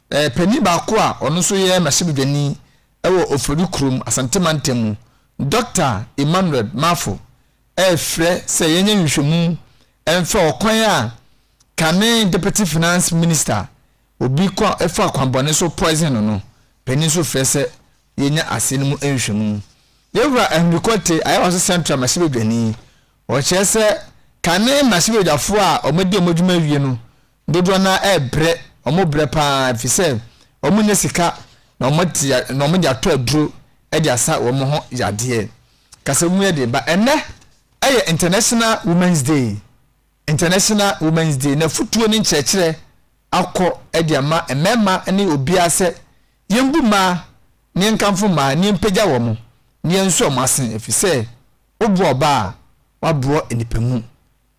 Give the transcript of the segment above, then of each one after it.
Panin baako a ɔno nso yɛ mmarahyɛbadwani wɔ Ofori kurom, Asante mantam mu, Dɔkta Emmanuel Marfo refrɛ sɛ yɛnyɛ nhwehwɛmu mfa ɔkwan a kane Deputy Finance Minister obi kwa faa kwammɔne so poison no no, panin nso frɛ sɛ yɛnya asɛm no mu nhwehwɛmu. Yɛwura Henry Quartey, Ayawaso Central mmarahyɛbadwani, ɔkyerɛ sɛ kane mmarahyɛbadwafoɔ a wɔadi wɔn adwuma awie no Dodoɔ no ara rebrɛ, wɔrebrɛ pa ara ɛfiri sɛ wɔnnya sika na wɔate na wɔde atɔ aduro de asa wɔn ho yadeɛ. Kasa mu yɛ den ba ɛnɛ ɛyɛ International Women's Day. International Women's Day na futuo ne nkyerɛkyerɛ akɔ de ama mmarima ne obiara sɛ yɛnbu mmaa na yɛnkamfo mmaa na yɛmpagya wɔn na yɛnso wɔn ase ɛfiri sɛ woboa ɔbaa a, woaboa nnipa mu.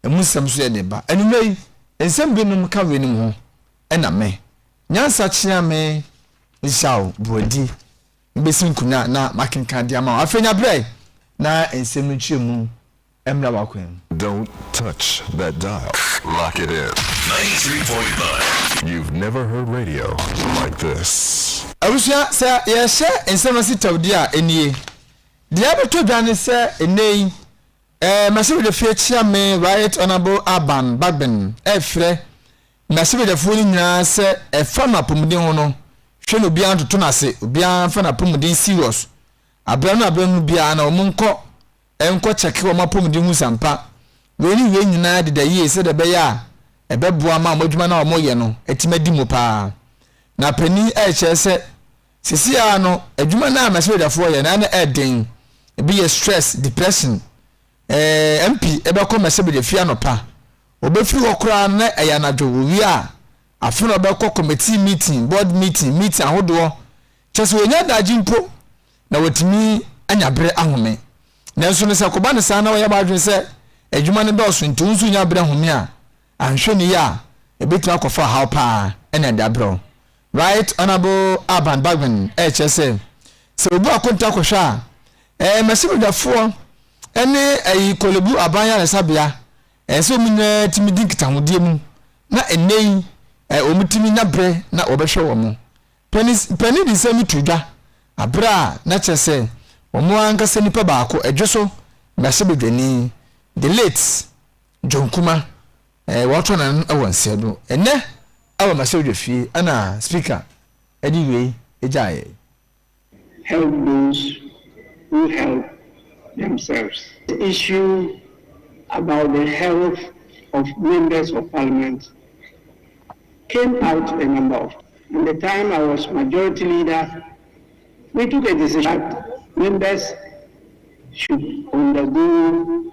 Emu nsɛm nso yɛ den ba. Anwummere yi, nsɛm binom ka weinom ho na me. Nyansa kyea me nhyɛ wo borɔdi mbesi nkonnwa na makenkan de ama wo. Afei nya berɛ na nsɛm no nkyerɛmu mmra w'akwan mu. Don't touch that dial, lock it in. 93.9. You've never heard radio like this. Abusua, sɛ yɛrehyɛ nsɛm ase tawdi a, ɛnie. Deɛ ɛbɛtɔ dwa ne sɛ nnɛ yi, Eh M'asebedefie kyia me Right Honourable Alban Bagbin eh frɛ M'asebedefo no nyinaa sɛ ɛfa no apɔmuden ho no hwɛ na obiara ntoto no ase obiara mfa n'apɔmuden serious abrɛ no abrɛ no biara na wɔn nkɔ eh nkɔ kyɛke wɔn apɔmuden hu sɛ ampa wei ne wei nyinaa deda yie sɛdeɛ ɛbɛyɛ a ɛbɛboa ma wɔn adwuma no a wɔyɛ no atumi adi mu paa na panin eh kyerɛ sɛ Sesei ara no, adwuma no a m'asɛbadwafoɔ yɛ no ara na ɛɛden. Ebi yɛ stress, depression. Ɛɛ, MP bɛkɔ m'asɛbadwafie anɔpa. Ɔbɛfiri hɔ koraa no na ɛyɛ anadwo, ɔwie a, afe na ɔbɛkɔ committee meeting, board meeting, meeting ahodoɔ. Kyerɛ sɛ ɔnnya adagye mpo na watumi anya berɛ ahome. Nanso no sɛ ɛkɔba no saa na wayɛ w'adwene sɛ adwuma no dɔɔso nti wo nso nnya berɛ home a, Anhwɛ no yie a, ɛbɛtumi akɔfa ɔhaw pa ara ne adwaberɛw. Right Honourable Alban Bagbin rekyerɛ sɛ, sɛ obu akonta kɔhwɛ a, ɛɛ mmarahyɛbadwafoɔ ne ɛyi Korlebu Aban Yaresabea, ɛɛ sɛ wɔn nyinaa tumi di nkitahodie mu na ɛnnɛ yi ɛɛ wɔtumi nya berɛ na wɔbɛhwɛ wɔn. Panin panin de nsɛm no too dwa aberɛ a na kyerɛ sɛ wɔn ankasa nipa baako ɛdwo so mmarahyɛbadwani, the late. John Kuma, eh, wɔatɔ n'ano wɔ nsɛm no. Ɛnnɛ wɔ Masewodwa fie ɛna Speaker de wei gyaa yɛn. Help those who help themselves. The issue about the health of members of parliament came out a number of times and the time I was majority leader we took a decision that members should undergo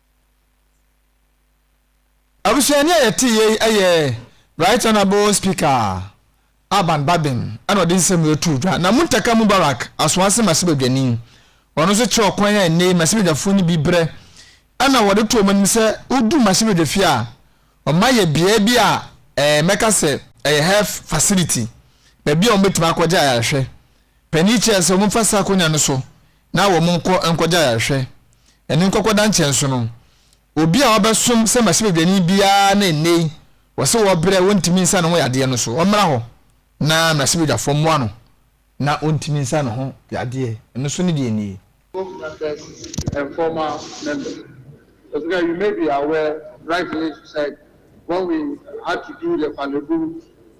Abusua ni a yɛte yei yɛ Right Honourable Speaker Alban Gbadem na ɔde nsɛm wei too dwa. Na Muntaka Mubarak Asoase Mmarahyɛbadwani, ɔno nso kyerɛ ɔkwan a nnɛyi mmarahyɛbadwafoɔ no bi brɛ na wɔde to wɔn anim sɛ wodu mmarahyɛbadwafie a, wɔn ayɛ beaɛ bi a ɛɛ mɛka sɛ ɛyɛ health facility, baabi a wɔbɛtumi akɔgye ayarehwɛ. Panin kyerɛɛ sɛ wɔmfa saa akonya no so na wɔnkɔ nkɔgye ayarehwɛ. Ɛno nkɔkɔ da nkyɛn nso no, obi a ɔbɛsom sɛ mmarahyɛbadwani biara na nnɛyi wɔse wɔbrɛ a wɔntumi nsa ne ho yadeɛ no so, ɔmmra hɔ na mmarahyɛbadwafoɔ mmoa no na ɔntumi nsa ne ho yadeɛ no so ne deɛ nie. Book members and former members Ɔse ka you may be aware rightly she said when we had to do the Korle Bu,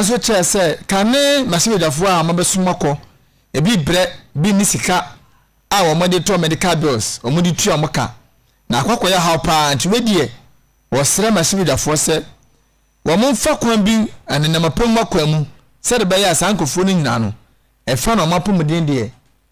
Nso kyerɛ sɛ kane mmrahyɛbadwafoɔ a wɔabɛsoma kɔ ebi brɛ bi ne sika a wɔde tɔ medical bills wɔde tua wɔn ka na akɔ akɔyɛ haw paa nti wei deɛ wɔsrɛ mmrahyɛbadwafoɔ sɛ wɔn mfa kwan bi nenam apɛmu akwan mu sɛde bɛyɛ a saa nkurɔfoɔ no nyinaa no ɛfa na wɔn apɔmuden deɛ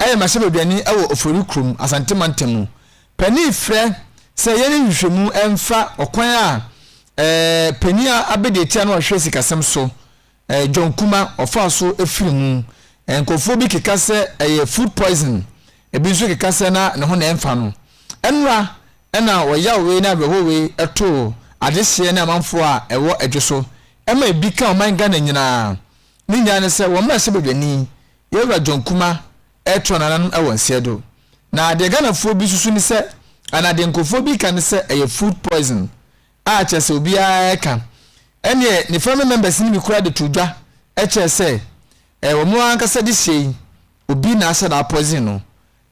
Ɛyɛ mmarahyɛbadwani wɔ Ofori kurom, Asante mantam mu. Panin frɛ sɛ yɛnyɛ nhwehwɛmu mfa ɔkwan a eh, panin a abadiakyiri a na ɔhwɛ sikasɛm so, eh, John Kuma, ɔfaa so firii mu. Eh, nkurɔfoɔ bi keka sɛ ɛyɛ food poison, ebi nso keka sɛ na ne ho na ɛmfa no. Ɛnora na wɔyawee ne awerɛhowee too adehyeɛ ne amanfoɔ a ɛwɔ Adwo so, ɛma ebi ka ɔman Ghana nyinaa. Ne nyinaa ne sɛ wɔn mmarahyɛbadwani Yɛwura John Kumah ɛretrɔ nananom wɔ nseɛ do. Na deɛ Ghanafoɔ bi susu ne sɛ anaa deɛ nkurɔfoɔ bi ka ne sɛ ɛyɛ food poison a kyerɛ sɛ obiara ɛreka. Ɛnneɛ ne family members no bi koraa de too dwa kyerɛɛ sɛ ɛyɛ wɔn ara ankasa de hyɛɛ yi, obi na ahyɛ da apoison no.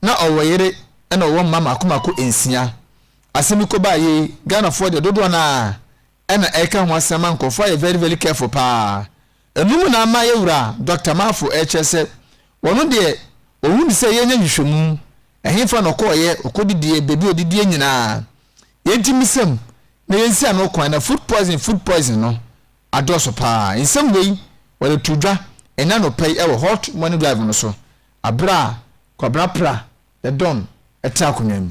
Na ɔwɔ yere ɛna ɔwɔ mma mmaako mmaako nsia. Asɛm yi kɔbaa yei, Ghanafoɔ deɛ dodoɔ no ara ɛna ɛreka ho asɛm ma nkorɔfoɔ ayɛ very very careful paa ɛnom na ama yɛwura Doctor Marfo ɛrekyerɛ sɛ wɔn deɛ wɔhu ne sɛ yɛnyɛ nhwehwɛmu ɛhefa na ɔkɔɔyɛ ɔkɔdidiɛ baabi ɔdidiɛ nyinaa yɛnti misɛm na yɛnsi ano kwan na food poison food poison no adɔɔso paa nsɛm wei wɔde too dwa ɛnɛ anɔpa yi ɛwɔ hot morning drive no so aberɛ a Kwabena Prah the Don ɛte akonnwa mu.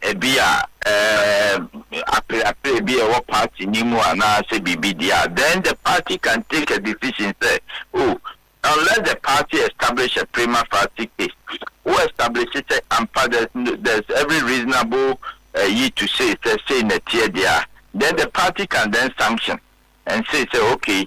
ebi a apereapereɛ bi a ɛwɔ party no mu anaa sɛ biribi deɛ a, then the party can take a decision sɛ, oh, unless the party establish a prima facie case, wo establish sɛ ampa there's, there's every reasonable eh, yi to say sɛ sei na ɛteɛ deɛ a, then the party can then sanction and say sɛ okay,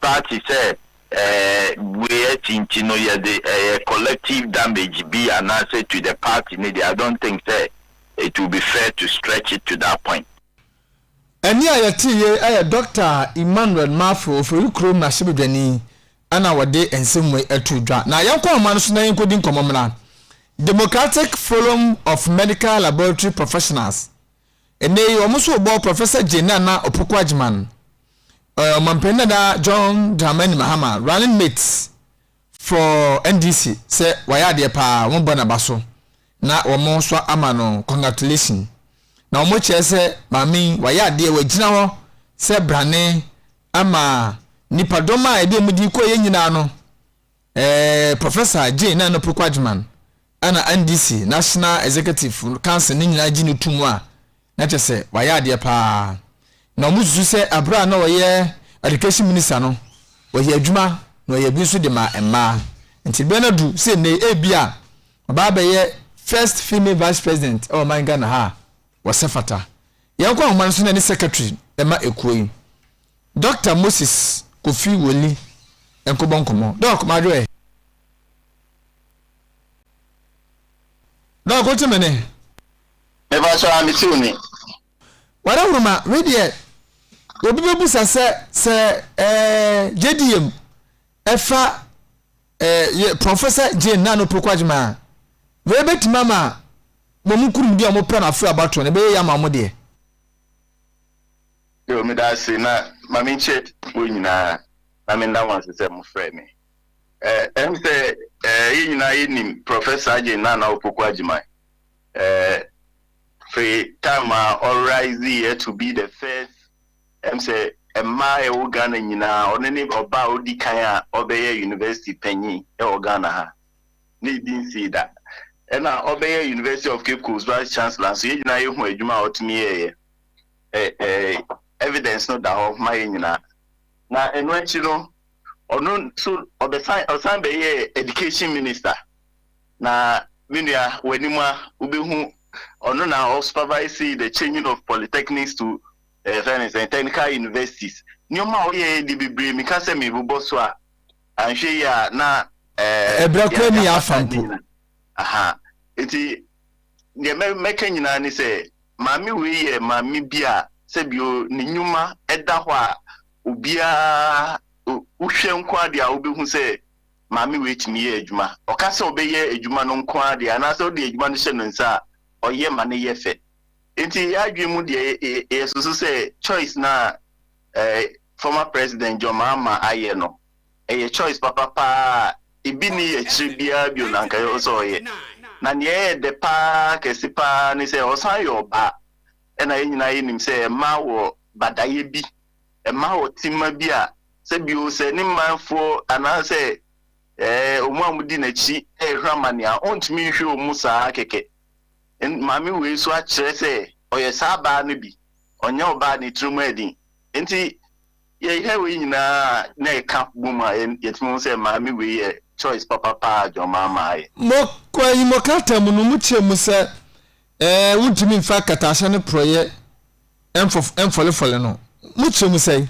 Party sɛ bue akyi nti no yɛde ɛyɛ collective damage bi anaasɛ to the party no deɛ I don't think sɛ it will be fair to stretch it to that point. Ɛnne a yɛtee yei yɛ Dɔkta Emmanuel Marfo, Ofori kurom mmarahyɛbadwani na ɔde nsɛm wei too dwa. Na yɛnkɔ nhoma no so na yɛnkɔdi nkɔmmɔ mmra. Democratic Forum of Medical Laboratory Professionals Ɛnnɛ yi, wɔn nso rebɔ Professor Jane Nana Opoku Agyeman, eh, Ɔmanpanin dada John Dramani Mahama, running mate for NDC, sɛ wayɛ adeɛ paa, wɔn bɔ n'aba so na wɔn nso ama no congratulation. Na wɔn kyerɛ sɛ maame yi wayɛ adeɛ, wagyina hɔ sɛ brane ama nipadɔm a ɛde wɔn di kɔ yɛ nyinaa no. Eh, Professor Jane Nana Opoku Agyeman, Ɛna NDC, National Executive, ka sɛ ne nyinaa gye no to mu a, na kyerɛ sɛ wayɛ adeɛ paa. Na wɔn susu sɛ aberɛ a na ɔyɛ Education Minister no, ɔyɛ adwuma na ɔyɛ bi nso de maa mmaa. Nti berɛ no adu sɛ nnei ebia ɔbɛ abɛyɛ First Female Vice President wɔ man Ghana ha a, wɔsɛ fata. Yɛn kɔ ahoma no so na ne Secretary ɛma ɛkuo yi, Doctor Moses Kofi Woli nkɔbɔ nkɔmɔ. Doc, madwoɛ. Dɔɔ ko te me ne. Meba so ara me tiw ni. Wada hunu ma me deɛ obi bɛ busa sɛ sɛ ɛɛ gyedi yam ɛfa ɛɛ yɛ Professor Jane na no pokwa gyima wei bɛ tima ma mo mo kurum deɛ ɔmo pɛ no afro abatɔ no bɛyɛ yama ɔmo deɛ. Yo me da ase na ma me nkyɛ wo nyinaa na me nda mo ase sɛ mo frɛ me. Eh, ɛm sɛ eh, yɛn nyinaa yɛnim Prɔfɛt Sergeant Nana Opoku Agyemang. Eh, firi time a ɔrise yɛ to be the first, ɛm sɛ mmaa a ɛwɔ Ghana nyinaa, ɔno ne ɔbaa a ɔdi kan a ɔbɛyɛ university panyin wɔ Ghana ha. Ne yɛdi nsii da. Ɛna ɔbɛyɛ University of Cape Coast Vice Chancellor nso, yɛn nyinaa yɛhu adwuma a ɔtumi yɛeɛ. Eh, eh, evidence no da hɔ ma yɛn nyinaa. Na ɛno akyi no, ɔno nso ɔbɛsan ɔsan bɛyɛɛ education minister na me nua w'anim a wobɛhu ɔno na ɔ supervise the changing of polytechnics to eh, fɛn ne sɛ technical universities nneɛma a ɔyɛ de bebree meka sɛ mebobɔ so a anhwɛ yi a na eh, ɛbrɛ kora ni afa mpo aha nti deɛ mɛka nyinaa ne sɛ maame wei yɛ maame bi a sɛbio ne nnwuma ɛda hɔ a obiara, wohwɛ nko ara deɛ a wobɛhu sɛ maame wei tumi yɛ adwuma. Ɔka sɛ ɔbɛyɛ adwuma no nko ara deɛ anaasɛ wode adwuma no hyɛ no nsa a, ɔyɛ ma no yɛ fɛ. Nti yɛn adwene mu deɛ yɛsusu sɛ choice no a eh, former President John Mahama ayɛ no, ɛyɛ choice papa paa a ebi nni akyire biara bio na anka ɛwɔ sɛ ɔyɛ. Na deɛ ɛyɛ dɛ paa kɛse paa ne sɛ ɔsan yɛ ɔbaa. Ɛna yɛn nyinaa yɛnim sɛ mmaa wɔ badayɛ bi mma ɔtemma bi a sɛ bio sɛ ne manfoɔ anaasɛ wɔn a wɔdi n'akyi rehwɛ amane a, ɔntumi nhwɛ wɔn saa kɛkɛ. Maame wei nso akyerɛ sɛ ɔyɛ saa baa no bi, ɔnyɛ ɔbaa ne tiri mu adin. Nti yɛhwɛ wei nyinaa a na ɛka bɔ mu a, yɛtumi hu sɛ maame wei yɛ choice papa paa a John Mahama ayɛ. Mo, kɔ ayi mo krataa mu no, mo kyerɛ mu sɛ Ɛɛ, wontumi mfa akatahyɛ no porɔeɛ mfof mfɔlefɔle no? Mo kyerɛ mu sɛn?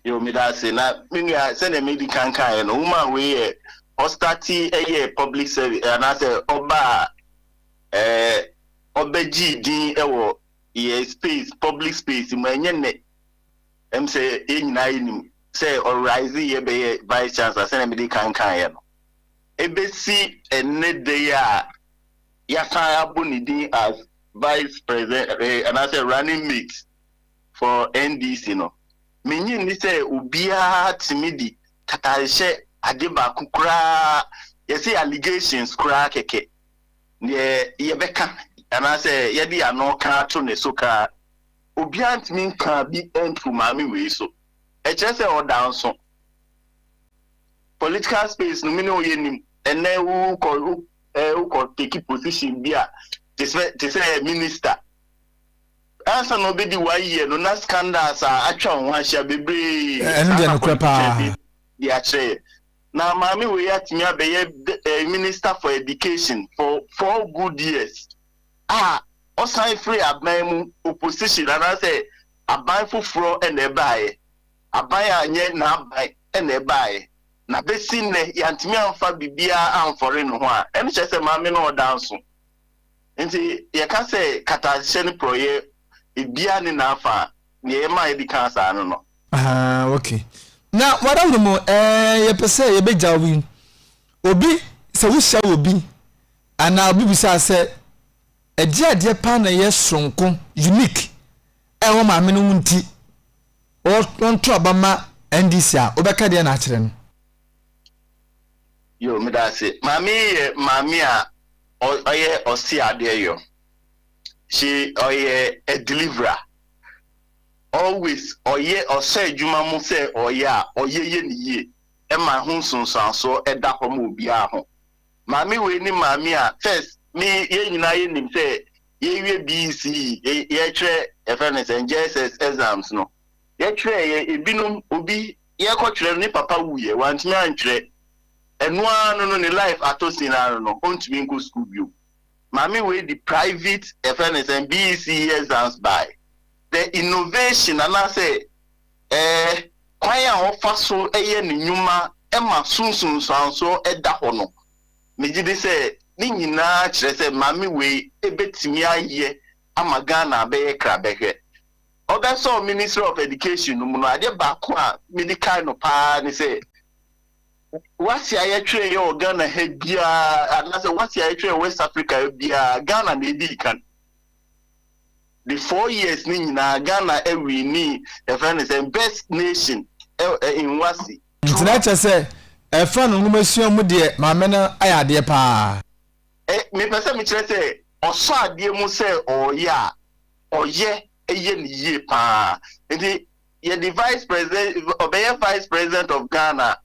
Yoo meda ase na me nua sɛdeɛ medi kan kaeɛ no woman wei yɛ ɔstati yɛ public service anaasɛ ɔba a ɛɛ ɔbɛgyee din wɔ yɛ space public space mu ɛnyɛ nnɛ ɛm sɛ yɛn nyinaa yɛnim sɛ ɔrise yɛ bɛyɛ vice chancellor sɛdeɛ medi kan kaeɛ no ɛbɛsi ɛnnɛ da yi a yɛasan abɔ ne din as vice president eh, anaasɛ running mate for NDC no, minnye nni sɛ obiara tumi di tatanhyɛ ade baako koraa, yɛse allegations koraa kɛkɛ, deɛ yɛbɛka anaasɛ yɛde ano ka ato ne so koraa, obiara ntumi nka bi nto maame wei so. Ɛkyerɛ sɛ ɔda nso. Political space no, me ne wo yɛnim, ɛnnɛ wokɔ eh, wokɔ take position bi a te sɛ te sɛ eh, minister ansa na ɔbɛdi one year no na scandals a atwa wɔn ho ahyia bebree ɛno deɛ nokorɛ paa de akyerɛ yɛ na maame wei atumi abɛyɛ eh, minister for education for four good years a ɔsan firi aban mu opposition anaasɛ aban foforɔ na ɛbaeɛ aban a nyɛ n'aban na ɛbaeɛ na besi nnɛ yɛantumi amfa biribiara amfɔre ne ho a, ɛno kyerɛ sɛ maame no ɔda nso. Nti yɛka sɛ kataahyɛ ne porɔeɛ, ebiara ne n'afa a, deɛ ɛma yɛde kaa saa no no. Ahaa, ok. Na w'adawurom ɛɛ yɛpɛ sɛ yɛbɛgyaw yi, obi, sɛ wohyia wɔ obi anaa obi bisa wo sɛ ɛdeɛ adeɛ paa na ɛyɛ soronko, unique, ɛwɔ maame no ho nti, Wɔnto aba ma NDC a, wobɛka deɛn akyerɛ no? Yoo medase maame yi yɛ maame a ɔyɛ ɔse adeɛ yɔ she ɔyɛ a deliverer always ɔyɛ ɔhyɛ adwuma mu sɛ ɔyɛ a ɔyɛ yɛ ne yie ɛma ho nsonsoansoɔ ɛda hɔ ma obiara ho maame wei ne maame a first me yɛn nyinaa yɛ nim sɛ Yɛrewie BSc yɛrekyerɛ yɛfrɛ no sɛn JSS exams no yɛtwerɛeɛ ebinom obi yɛrekɔtwerɛ no ne papa wuiɛ wantumi antwerɛ ɛno ara no no ne life atɔ sin ara no no ɔntumi nkɔ sukuu bio maame wei de private yɛfrɛ no sɛn BSc exams baeɛ the innovation anaasɛ ɛɛ kwan a ɔfa so yɛ ne nnwuma ma so nsunsuansoɔ da hɔ no. Megye di sɛ ne nyinaa kyerɛ sɛ maame wei bɛtumi ayɛ ama Ghana abɛyɛ krabɛhwɛ. Ɔbɛsɔɔ Ministry of Education no mu no, adeɛ baako a mede kae no pa ara ne sɛ, wasi a yɛtwerɛeɛ wɔ Ghana ha biara anaasɛ wasi a yɛtwerɛeɛ wɔ West Africa ha biara, Ghana na ɛdii kan. The four years no nyinaa, Ghana ɛwinii, yɛfrɛ no sɛ best nation in wasi. Nti na kyerɛ sɛ ɛfa no nwomasua mu deɛ maame no ayɛ adeɛ paa. Eh, mepɛ sɛ mekyerɛ sɛ ɔsɔ adeɛ mu sɛ ɔɔyɛ a, ɔyɛ yɛ no yie paa. Nti yɛde vice president, ɔbɛyɛ vice president of Ghana,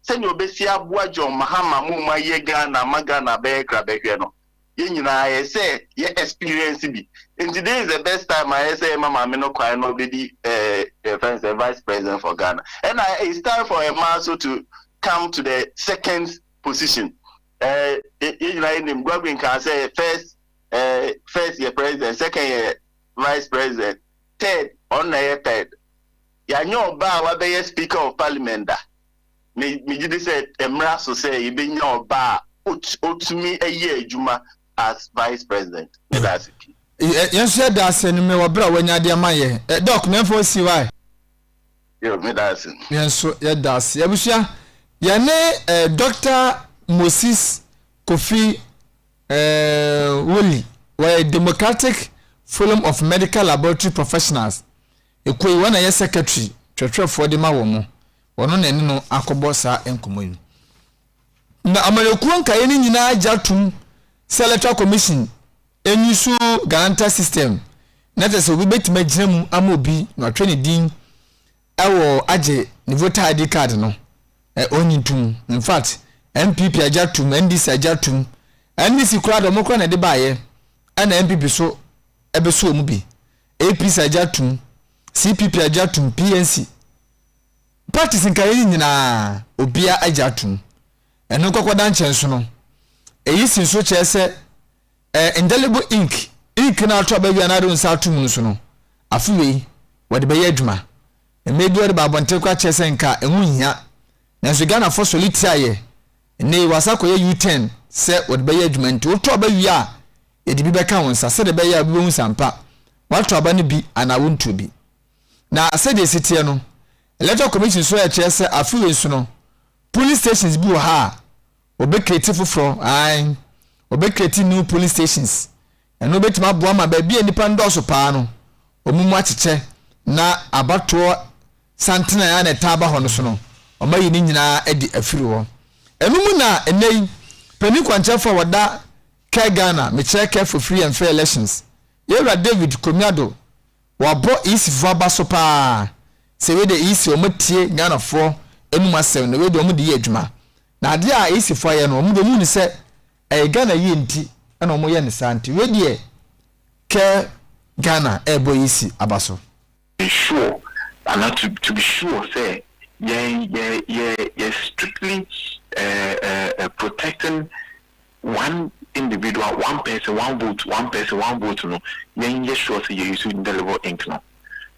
sɛdeɛ ɔbɛsi aboa John Mahama mo ma yɛ Ghana ma Ghana bɛyɛ krabɛhwɛ no. yɛn nyinaa yɛ sɛ yɛ experience bi nti this is the best time a yɛ sɛ yɛma maame no kwan na ɔbɛdi eh, yɛfrɛ no sɛ vice president for Ghana ɛna it's time for a man so to come to the second position eh, yɛ yɛ nyinaa yɛnim Godwin kaa sɛ first eh, first yɛ president second yɛ vice president third ɔno na yɛ third yɛanyɛ ɔbaa a wabɛyɛ speaker of parliament da Me, megye di sɛ ɛmmra so sɛ yɛbɛnya ɔbaa a ot, otumi yɛ adwuma as vice president. Meda ase pii. Yɛ, yɛn nso yɛda ase no me wɔ berɛ a wanya de ama yɛn. Ɛ, Doc, Mɛmfa wo CY. Yo, meda ase. Yɛn nso yɛda ase. Abusua, yɛne ɛ, Doctor Moses Kofi ɛ, Willy, wɔyɛ Democratic Forum of Medical Laboratory Professionals, ekuo yi, wɔn na ɛyɛ secretary twerɛtwerɛfoɔ de ma wɔn. Ɔno na ɛne no akɔbɔ saa nkɔmmɔ yi. Na amanyɔkuo nkaeɛ no nyinaa gya tom sɛ Electoral Commission nyi so Galanta system na kyerɛ sɛ obi bɛtumi agyina mu ama obi na watwerɛ ne din wɔ agye ne voter ID card no. Ɔnyi tom. In fact, NPP agya tom, NDC agya tom, NDC koraa de wɔn koraa na ɛde baeɛ ɛna NPP so ɛbɛso wɔn bi. APC agya tom, CPP agya tom, PNC Practice nkaeɛ yi nyinaa obiara agye atom. Ɛno nkɔkɔda nkyɛn so no, eyi si nso kyerɛ sɛ ɛyɛ indelible ink, ink no a ato aba wie a na wode nsa ato mu no so no, afe wei wɔde bɛyɛ adwuma. Mmerɛ bi wɔde ba abɔnten koraa kyerɛ sɛ nka ɛho nhia, nanso Ghanafoɔ sɔre tiaeɛ. Nnɛ yi wɔasan akɔyɛ U-turn sɛ wɔde bɛyɛ adwuma nti woto aba wie a, yɛde bi bɛka wo nsa sɛdeɛ ɛbɛyɛ a wobɛhu sɛ ampa woato aba no bi anaa wontuo bi. Na sɛdeɛ ɛsi teɛ no, Electoral Commission nso ɛkyerɛ sɛ afe wei nso no, polling stations bi wɔ ha a, wɔbɛkreti foforɔ, ae, wɔbɛkreti new polling stations. Ɛno bɛtumi aboa ma baabi a nnipa nnɔɔso paa no, wɔn mu akyekyɛ na abatoɔ santene a na ɛtaa ba hɔ no so no, wɔayi ne nyinaa adi afiri hɔ. Ɛno mu na ɛnnɛ yi, panin kwankyerɛfoɔ a wɔda Kɛ Ghana, mekyerɛ Kɛ Fofiri and Fair Elections, Yɛwura David Komiado Wabɔ EC foɔ aba so paa sɛ wei deɛ EC wɔn atie Ghana foɔ anum asɛm na wei deɛ wɔn de yɛ adwuma na adeɛ a EC foɔ ayɛ no wɔn deɛ wɔn nim sɛ ɛyɛ Ghana yie nti ɛna wɔn yɛ no saa nti wei deɛ kɛ Ghana ɛrebɔ EC aba so. be sure anaa to to be sure sɛ yɛn yɛ yɛ yɛ strictly eh eh protecting one individual, one person, one vote, one person, one vote no yɛn yɛ sure sɛ yɛ use indelible ink no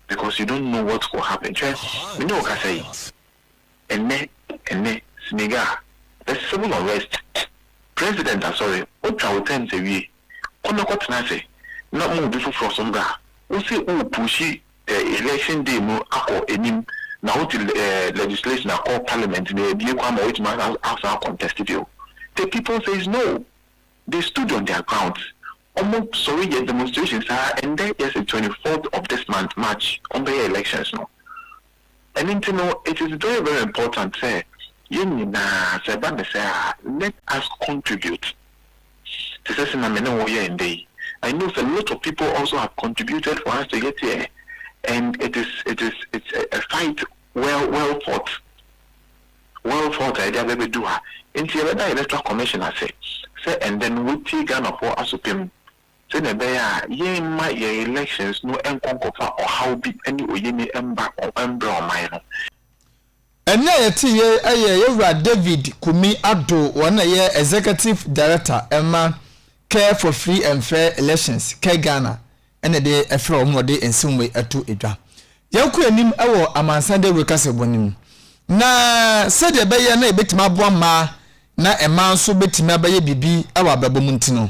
because you don't know what will happen hwɛ me ne wo kasa yi ɛnɛ ɛnɛ Senegal there's civil unrest president asɔre wotwa wo terms awie kɔ na kɔ tena ase na ma obi foforɔ so mbra wo se wo pushi Election day no akɔ anim na wote legislation akɔ parliament na yɛabue kwan ma woatumi asan a contest bio. The people says no. They stood on their grounds. Ɔmo sɔre yɛ demonstration saa, ɛndɛ yɛse twenty fourth of this month, March, ɔmbɛyɛ elections no. Ɛno nti no, it is very very important sɛ yɛn nyinaa sɛ ɛba ne sɛ a, let us contribute te sɛ sɛnea me ne wo yɛ nnɛ yi. I know sɛ lot of people also have contributed for us to get here and it is it is it's a, a fight well well fought well fought a yɛde abɛbɛdu ha. Nti yɛbɛda electoral commission ase sɛ ɛndɛ no wɔatie Ghanafoɔ asopɛ mu sɛnea ɛbɛyɛ a yɛmma yɛn elections no nkɔ nkɔfa ɔhaw bi ne oyenni mba ko mbrɛ ɔman no. Ɛnne a yɛteeɛ yi yɛ Yɛwura David Kumi Addo, wɔn na ɛyɛ Executive Director ma Care for Free and Fair Elections, CareGhana, na de frɛ wɔn ma wɔde nsɛm wei to dwa. Yɛkɔ anim wɔ amansan dawuro kasabɔ no mu na sɛdeɛ ɛbɛyɛ na yɛbɛtumi aboa mmaa na mmaa nso bɛtumi abɛyɛ biribi wɔ abrabɔ mu nti no,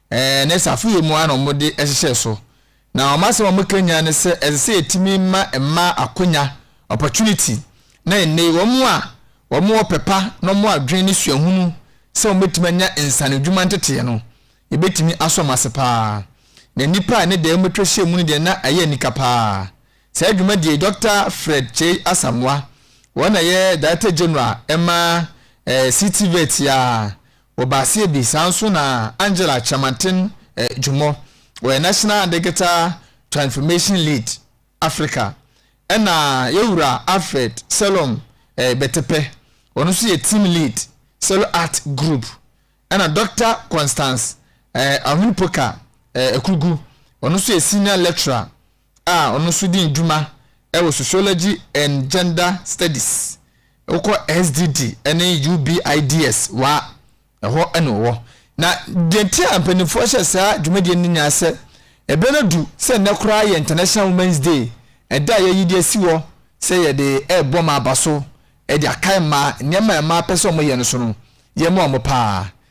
Ɛɛ, na saafo yɛ mu ara na wɔde hyehyɛɛ so. Na wɔn asɛm a wɔkanyan ne sɛ ɛsɛ sɛ yɛtumi ma mmaa akwanya, opportunity, na ɛnnɛ yi wɔn a wɔwɔ pɛ pa na wɔwɔ adwene ne suahunu sɛ wɔbɛtumi anya nsaano adwuma nteteɛ no, yɛbɛtumi asɔ wɔn ase pa ara. Na nnipa a ɛne dɛɛ wɔbɛtwa ahyia mu no deɛ na ɛyɛ anika pa ara. Saa dwumadie yi, Dɔkta Fred Kyei Asamoah, wɔn na ɛyɛ Director General ma ɛɛ CTVET yi ara, Wɔ baaseɛ bi saa nso na Angela Kyerematen Jumo, ɔyɛ National Digital Transformation Lead, Africa, ɛna Yɛwura Alfred Selom Betepe, ɔno nso yɛ Team Lead, Selo Art Group, ɛna Dɔkta Constance Ahunpoka Akugu, ɔno nso yɛ Senior Lecturer a ɔno nso di dwuma wɔ Sociology and Gender Studies, wokɔ SDD ne UBIDS wa a, ɛhɔ na ɔwɔ. Na deɛ nti a mpanimfoɔ hyɛ saa dwumadie no nyinaa sɛ, ɛberɛ no adu sɛ nnɛ koraa yɛ International Women's Day, ɛda a yɛayi de asi hɔ sɛ yɛde rebɔ mmaa abaso de akae mmaa nneɛma a mmaa pɛ sɛ wɔyɛ no so no, yɛmmoa wɔn pa ara.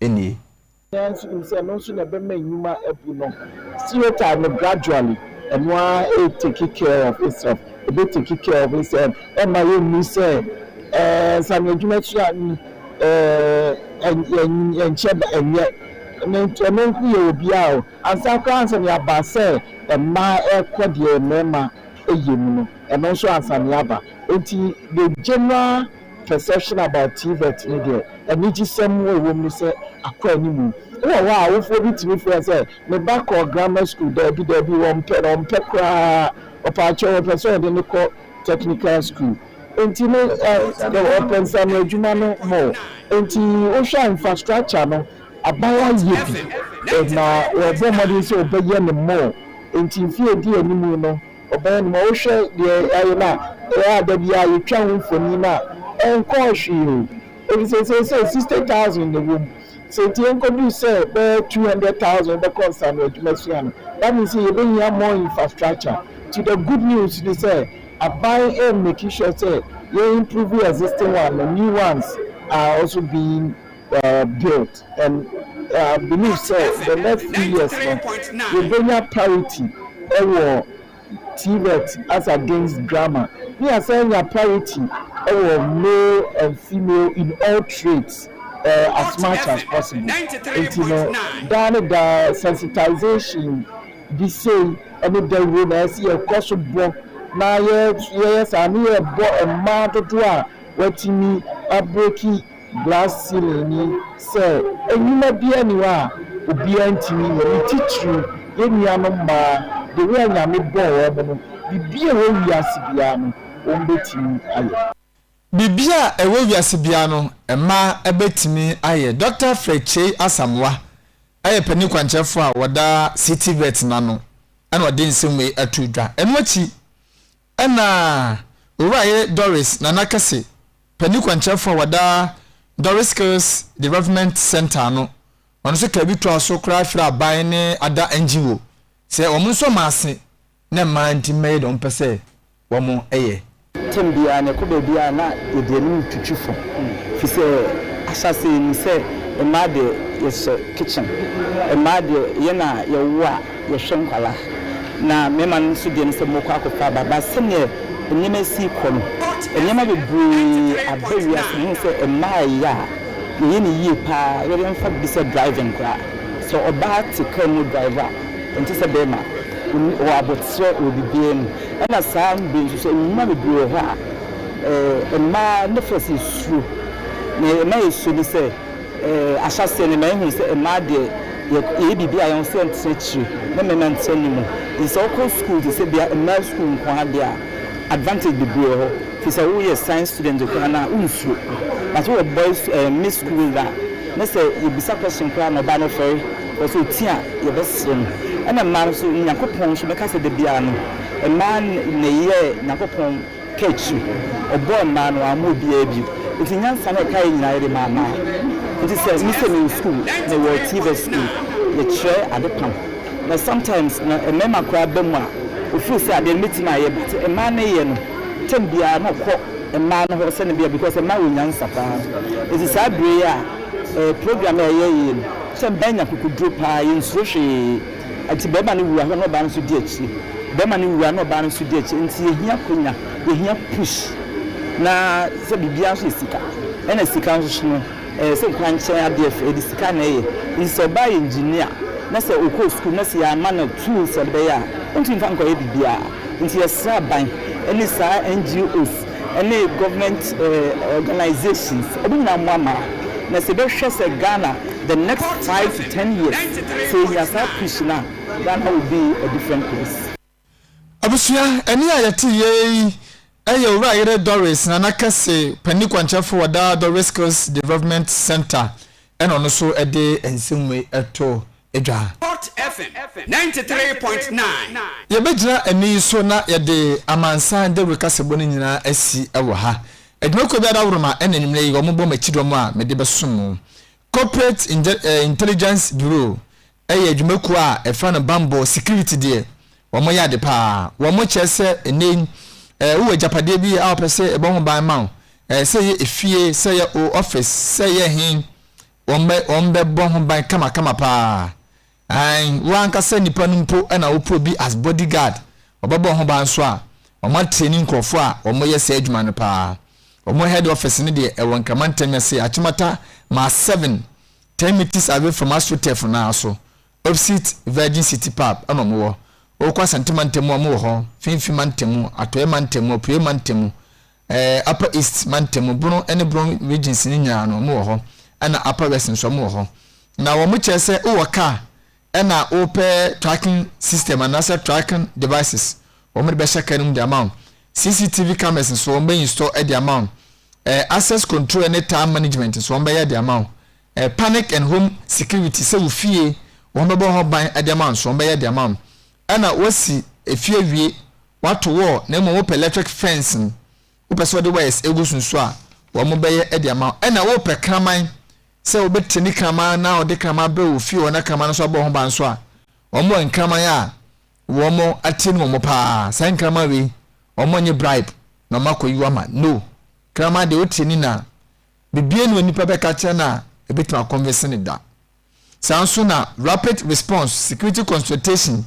nie. Nyinaa nso nim sɛ ɛno nso na ɛbɛma nnwuma abu no. Stereotype no gradually ɛno ara re take care of itself, ɛbɛ take care of itself, ɛmma yɛ nni sɛ ɛɛ nsano adwuma sua no ɛɛ ɛnkyɛ da ɛnyɛ ne nti ɛno nko yɛ wɔ biara o. Ansa koraa ansa na yɛaba sɛ mmaa ɛrekɔ deɛ mmarima ɛyɛ mu no ɛno nso ansa na yɛaba. Ɛnti the general. Perception about TVET no deɛ, anigyesɛm a ɛwɔ mu ne sɛ akɔ anim. Wowɔ hɔ a, awofoɔ bi tumi frɛ sɛ, Me ba kɔɔ grammar school. Daabi, daabi, wɔmpɛ no, wɔmpɛ koraa. Ɔpɛakyɛw, wɔpɛ sɛ wɔde no kɔ technical school. Enti no, wɔpɛ nsɛmma adwuma no more. Enti wohwɛ a, infrastructure no, aban ayɛ bi, na wɔrebɔ mmɔden sɛ wɔbɛyɛ no more. Enti mfe a ɛdi anim no, Ɔbaa no ma wohwɛ deɛ yɛayɛ no a, ɛyɛ a da biara yɛtwa ho mfonin a ɛnkɔɔ hwee o, ɛfiri sɛ seesei sixty thousand na ɛwɔ mu, sɛ nti ɛnkɔduru sɛ bɛyɛ two hundred thousand bɛkɔ nsano adwuma sua no, that means sɛ yɛbɛhia more infrastructure, nti the good news ne sɛ aban ɛremmake sure sɛ yɛ improve existing one no, new ones are also being. built and I believe sɛ the next three years no yɛbɛnya parity wɔ TVET as against grammar ne yɛasan anya parity wɔ male and female in all trades uh, as much as possible nti no daa ne daa sensitization bi sei ne dawuro na ɛsɛ yɛkɔ so bɔ na yɛyɛ saa ne yɛbɔ mmaa dodoɔ a wɔatumi abreki glass ceiling ni sɛ nnwuma biara nni hɔ a obiara ntumi nyɛ, ne titiriw yɛn nuanom mmaa de, wɔn a Nyame bɔɔ wɔn no, biribiara a ɛwɔ wiase biara no, wɔbɛtumi ayɛ. Biribiara a ɛwɔ wiase biara no, mmaa bɛtumi ayɛ. Dɔkta Fred Kyei Asamoah yɛ panin kwankyerɛfoɔ a ɔda City Vet no ano na ɔde nsɛm wei to dwa. Ɛno akyi, Ɛnna Owura Yere Doris Nana Kɛse pɛ ne kwankyerɛfo a wɔda Doris Skills Development Centre ano, ɔno nso kaa bi toaa so koraa frɛɛ aban ne ada NGO sɛ wɔn nso wɔn ase na mmaa nti mmɛyɛ deɛ wɔpɛ sɛ wɔyɛ. Term biara no, ɛkɔ baabi a na yɛde yɛn anim retwitwi fam, ɛfiri sɛ ahyɛaseɛ yɛnim sɛ mmaa deɛ yɛhyɛ kitchen, mmaa deɛ yɛn na yɛwo a, yɛhwɛ nkwadaa na mmarima no nso deɛ ne sɛ wɔkɔ akɔfa aba but sɛdeɛ nneɛma asi rekɔ no nneɛma bebree aba wiase no wohu sɛ mmaa a ɛyɛ a yɛyɛ no yie pa ara yɛde mfa biribi sɛ driving koraa sɛ ɔbaa te car mu drive a ɛnte sɛ barima ɔwɔ aboterɛ wɔ biribiara mu ɛna saa mmerɛ nso sɛ nnwuma bebree wɔ hɔ a mmaa ne fɛ sɛ suro na ɛma yɛsuo ne sɛ Ahyɛaseɛ no na yɛhunu sɛ mmaa deɛ yɛyɛ biribiara yɛn ho sɛ yɛntena akyire na mmarima ntena anim. Nti sɛ wokɔ sukuu te sɛ bia mmaa sukuu nko ara deɛ a advantage bebree wɔ hɔ. Nti sɛ woyɛ science student koraa no a wonsuro. But woyɛ boys ɛɛ mix sukuu wei dze a ne sɛ yɛbisa question koraa na ɔbaa no ɔfɛre because ɔti a yɛbɛsere no. Ɛna mmaa no nso Nyankopɔn nso mɛka sɛ dabiara no mmaa na ɛyɛ Nyankopɔn. Catch su. Ɔbɔɔ mmaa no wamma obiara bi. Nti nyansa na ɔkaeɛ nyinaa yɛde maa mmaa. Nti sɛ me sɛ mewɔ sukuu, mewɔ tvs sukuu, mekyerɛ ade pam. Na sometimes na mmarima koraa ba mu a, ɔfeel sɛ adeɛ no mɛtumi ayɛ but mmaa no yɛ no term biara na ɔkɔ mmaa no hɔ sɛne bia because mmaa wɔ nyansa paa. Nti saa berɛ yi a program a yɛyɛ yei no sɛ mmaa nya kokoduro paa yɛnsuro hwee. Enti barima no wu a na ɔbaa no nso di akyire, barima no wu a na ɔbaa no nso di akyire. Enti yɛhia akwanya, yɛhia push. Na sɛ biribiara nso yɛ sika, ɛna sika nso no ɛyɛ sɛ nkwankyɛn adeɛ, yɛde sika na ɛyɛ. Nti sɛ ɔbaa yɛ engineer na sɛ ɔkɔɔ sukuu na sɛ yɛamma no tools a ɛde bɛyɛ a, ɔntumi mfa nkɔyɛ biribiara. Nti yɛsrɛ aban ne saa NGOs. ne government organisations ɔmo nyinaa ɔmo ama na sɛ bɛ hwɛ sɛ Ghana the next five to ten years sɛ yɛ nya saa push no a Ghana will be a different place. Abusua, ɛnne a yɛte yei yɛ Owura Ayere Doris Nana Kɛse Panyin Kwankyɛfo wɔ daa Doris Skills Development Centre Ɛna ɔno nso de nsɛm wei to dwa. Hot FM ninety three point nine. Yɛbɛgyina ɛnne yi so na yɛde amansan dawuro kasabɔ no nyinaa asi wɔ ha. Adwumakuo biara woro ma ɛna anwummerɛ yi wɔbɔ m'akyidɔm a mede bɛsom mo. Corporate Intelligence Bureau Ɛyɛ adwuma kuo a ɛfa no banbɔ security deɛ wɔn yɛ ade paa wɔn kyerɛ sɛ ɛnɛ yi ɛɛ wowɔ agyapadeɛ bi a wɔpɛ sɛ ɛbɔ ho ban ma wo ɛɛ sɛ yɛ efie sɛ yɛ o office sɛ yɛ he wɔn bɛ wɔn bɛ bɔ ho ban kama kama paa ae wo ankasa nipa no mpo ɛna wopɛ obi as body guard ɔbɛbɔ ho ban nso a wɔn atreni nkorɔfoɔ a wɔn yɛ saa adwuma no paa wɔn head office no deɛ ɛwɔ nkramantam ase akyemata maa seven Ten metres away from Asro turf no ara so, opposite Virgin City pub na ɔmo wɔ. Wokɔ Asante mantamu a ɔmo wɔ hɔ, Finfin mantamu, Atɔeɛ mantamu, Apueɛ mantamu, ɛɛ Upper East mantamu, Bono ne Bono regions no nyinaa no ɔmo wɔ hɔ, ɛna Upper West nso ɔmo wɔ hɔ. Na ɔmo kyerɛ sɛ wowɔ car na wopɛ tracking system anaasɛ tracking devices wɔn de bɛhyɛ car no mu de ama wo cctv cameras nso wɔn bɛ install de ama wo eh, access control ne time management nso wɔn bɛyɛ de ama wo eh, panic and home security sɛ wo fie wɔn bɛbɔ hɔ ban de ama wo nso wɔn bɛyɛ de ama wo ɛna wasi efie wie wato wall na mmom wopɛ electric fence no wopɛ sɛ wɔde wires egu so nso a wɔn bɛyɛ de ama wo ɛna wopɛ kraman sɛ obetete ne kraman na ɔde kraman abrɛ wɔ fie wɔ na kraman no nso abɔ ho ban nso a, wɔwɔ nkraman a wɔatie no wɔn paa. Saa nkraman wei, wɔnyɛ bribe na wɔakɔyi ama. No. Kraman deɛ otie ne na biribiara ni a onipa bɛka akyerɛ no a ebetumi akɔnvinse no da. Saa nso na rapid response, security consultation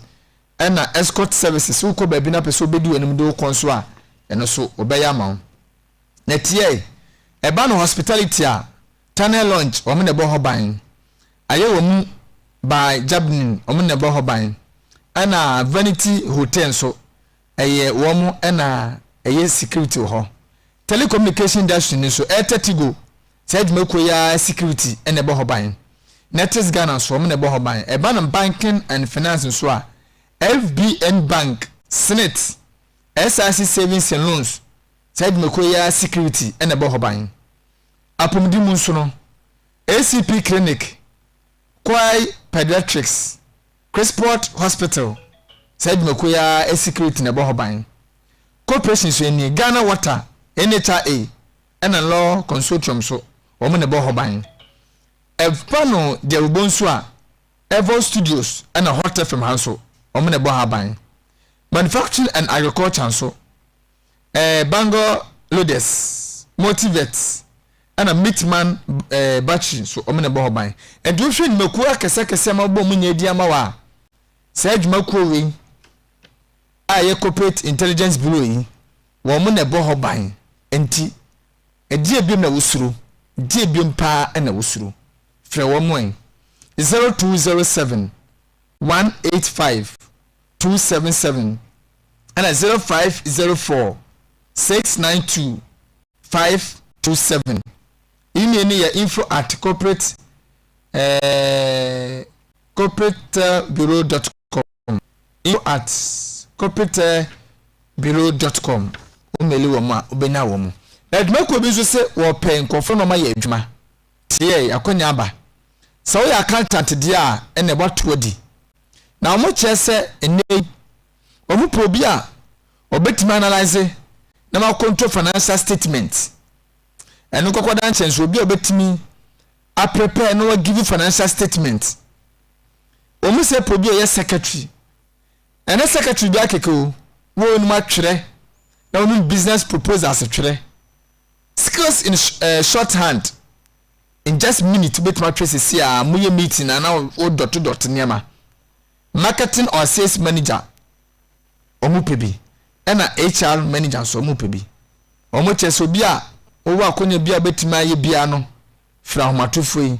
ɛna escort services. Wokɔ baabi na pɛ sɛ obedi w'anim de wo kɔ nso a, ɛno nso wɔbɛyɛ ama wo. na tiae ɛba no hospitality a tunnel launch wɔn na ɛbɔ hɔ ban ayɛ wɔn mu by jabnin wɔn na ɛbɔ hɔ ban ɛna vanity hotel nso ɛyɛ wɔn ɛna ɛyɛ security wɔ hɔ telecommunication industry no nso ɛtɛ tigo saa adwumakuo yi ara security ɛna ɛbɔ hɔ ban netis ghana nso wɔn na ɛbɔ hɔ ban ɛba no banking and finance nso a fbn bank senate SRC Savings and Loans, saa dwumakuo yi ara security na ɛbɔ hɔ ban. Apɔmuden mu nso no, ACP Clinic, Kwai Pediatrics, Chrisport Hospital, saa dwumakuo yi ara security na ɛbɔ hɔ ban. Corporation nso nie, Ghana Water, NHRA, ɛna Law Consortium nso, wɔn na ɛbɔ hɔ ban. Ɛba no Gyawubɔ nso a, Evol Studios na Hot FM ha nso wɔn na ɛbɔ ha ban. Manufacturing and Agriculture nso, eh, Bangor Loaders, Multivet ɛna Mitman eh, Battery nso wɔn na ɛbɔ hɔ ban. Ɛnti wohwɛ nnwumakuo akɛseakɛseɛ ama wɔbɔ wɔn nyɛ di ama wɔ a, saa adwumakuo wei a ɛyɛ Corporate Intelligence Bureau yi, wɔn na ɛbɔ hɔ ban. Ɛnti. Ɛdeɛ biom na wosuro? Deɛ biom paa na wosuro? Frɛ wɔn ɛ! Zero two zero seven one eight five two seven seven ɛna zero five zero four six nine two five two seven. Email no yɛ info at corporate eh, corporate bureau dot com. Info at kopitɛbureau dot com Wo meli wɔn a, wobɛnya wɔn. Adwumakuo bi nso se wɔpɛ nkurɔfoɔ na wɔayɛ adwuma. Teɛɛ, akwannya aba. Sɛ woyɛ accountant deɛ a, ɛnneɛ woato adi. Na wɔkyerɛ sɛ nnɛ yi, wɔpɛ obi a ɔbɛtumi analyse na wakontrol financial statement. Ɛno nkɔkɔdaa nkyɛn nso, obi a ɔbɛtumi aprepare na wagive financial statement. wɔn sɛ pɔ bi a ɔyɛ secretary ɛnɛ secretary bi akeke o wɔn nom atwerɛ na wɔn business proposals twerɛ skills in uh, short hand in just minute bɛtumi atwerɛ sisi a mo yɛ meeting na na wɔ dɔte dɔte nneɛma marketing or sales manager wɔn pɛ bi ɛna HR manager nso wɔn pɛ bi wɔn kyɛ sɛ obi a wɔwɔ akɔnya bi a bɛtumi ayɛ bia no fira ahomatofo yi.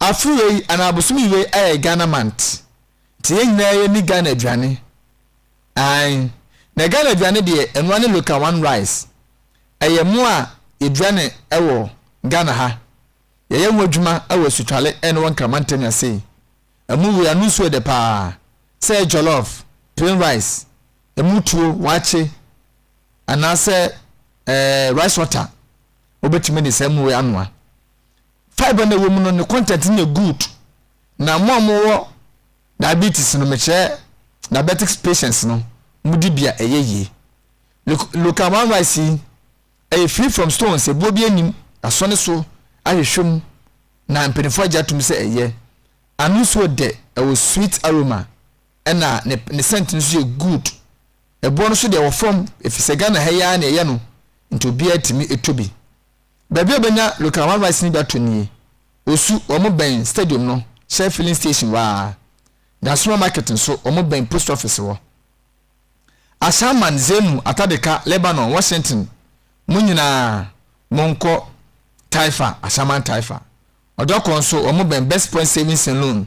Afe wei anaa bosome wei ayɛ Ghana month nti yɛn nyinaa yɛ ni Ghana aduane ae na Ghana aduane deɛ ɛnoa ne local one rice ɛyɛ mo a yɛdua ne ɛwɔ Ghana ha yɛyɛ ho adwuma ɛwɔ asutwale ɛne wɔ Nkrama Ntɛmia sei ɛmo wei ano nsuo ɛdɛ paa sɛ ɛyɛ jollof plain rice ɛmo tuo waakye anaasɛ ɛɛ rice water wobɛtumi de saa ɛmo wei anoa. fibre na ɛwɔ mu no ne content no yɛ good na mo a mo wɔ diabetes no mekyerɛ diabetics patients no mo di bi a ɛyɛ yie local one rice yi ɛyɛ free from stones ebuo bi anim asɔ ne so ahwehwɛ mu na mpanyinfoɔ agye atum sɛ ɛyɛ ano nsuo dɛ ɛwɔ sweet aroma ɛna ne ne scent no nso yɛ good ɛboɔ no so deɛ ɛwɔ fam efisɛ Ghana ha yi ara na ɛyɛ no nti obiara tumi eto bi. Baabi a wobenya Local One Rice no bi atɔ nie, Osu, wɔbɛn Stadium no, Shell Filling Station hɔ ara. Nyasoma Market nso, wɔbɛn Post Office hɔ. Ashaiman, Zenu, Atadeka, Lebanon, Washington, mo nyinaa monkɔ Taifa, Ashaiman Taifa. Ɔdɔkɔ nso, wɔbɛn Best Point Savings and Loan